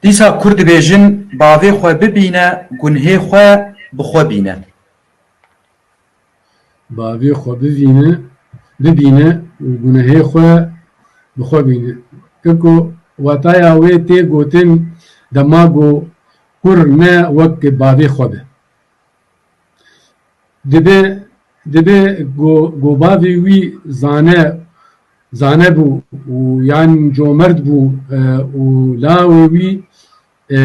Dîsa kurd dibêjin bavê xwe bibîne gunhê xwe bi xwe bîne. Bavê xwe bivîne, bibîne û gunehê xwe bi xwe bîne. Ke ku wataya wê tê gotin dema ku kur ne wek bavê xwe be. Dibe dibe ku ku bavê wî zane zanebû û yan comerd bû e, û lawê wî e,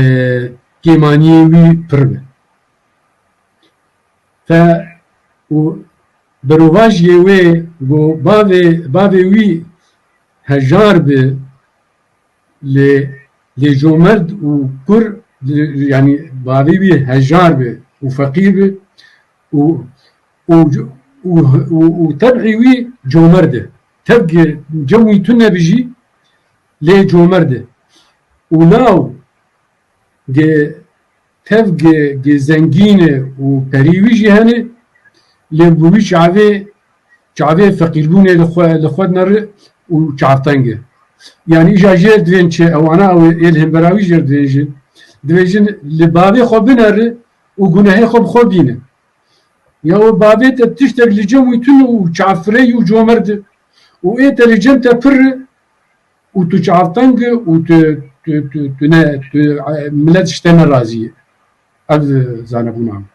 kêmaniyê wî pir be. Te û berovajiyê wê ku bavê bavê wî hejar bi Lê lê comerd û kur yanî bavê wî hejar be û feqîr be û û û tebî wî comerd e. Tevgê cem wî tune be jî lê comerd e û law dê Tevgê gê zengîn e û perî wî jî hene lê bi wî çavê çavê feqîrbûnê li xwe li xwe diner û çavteng e. Yanî îja jê re divên çi ewana ew ê li hemberî wî jê re divên jin divê jin li bavê xwe bineri û gunehê xwe bi xwe bîne. Ya wê bavê te tiştek li cem wî tune û çavfireyî û comerd e û ê te li cem te pirr e Û tu çavteng î û tu tu tu tu ne tu milet ji te ne razî ye. Ev zanebûna min e.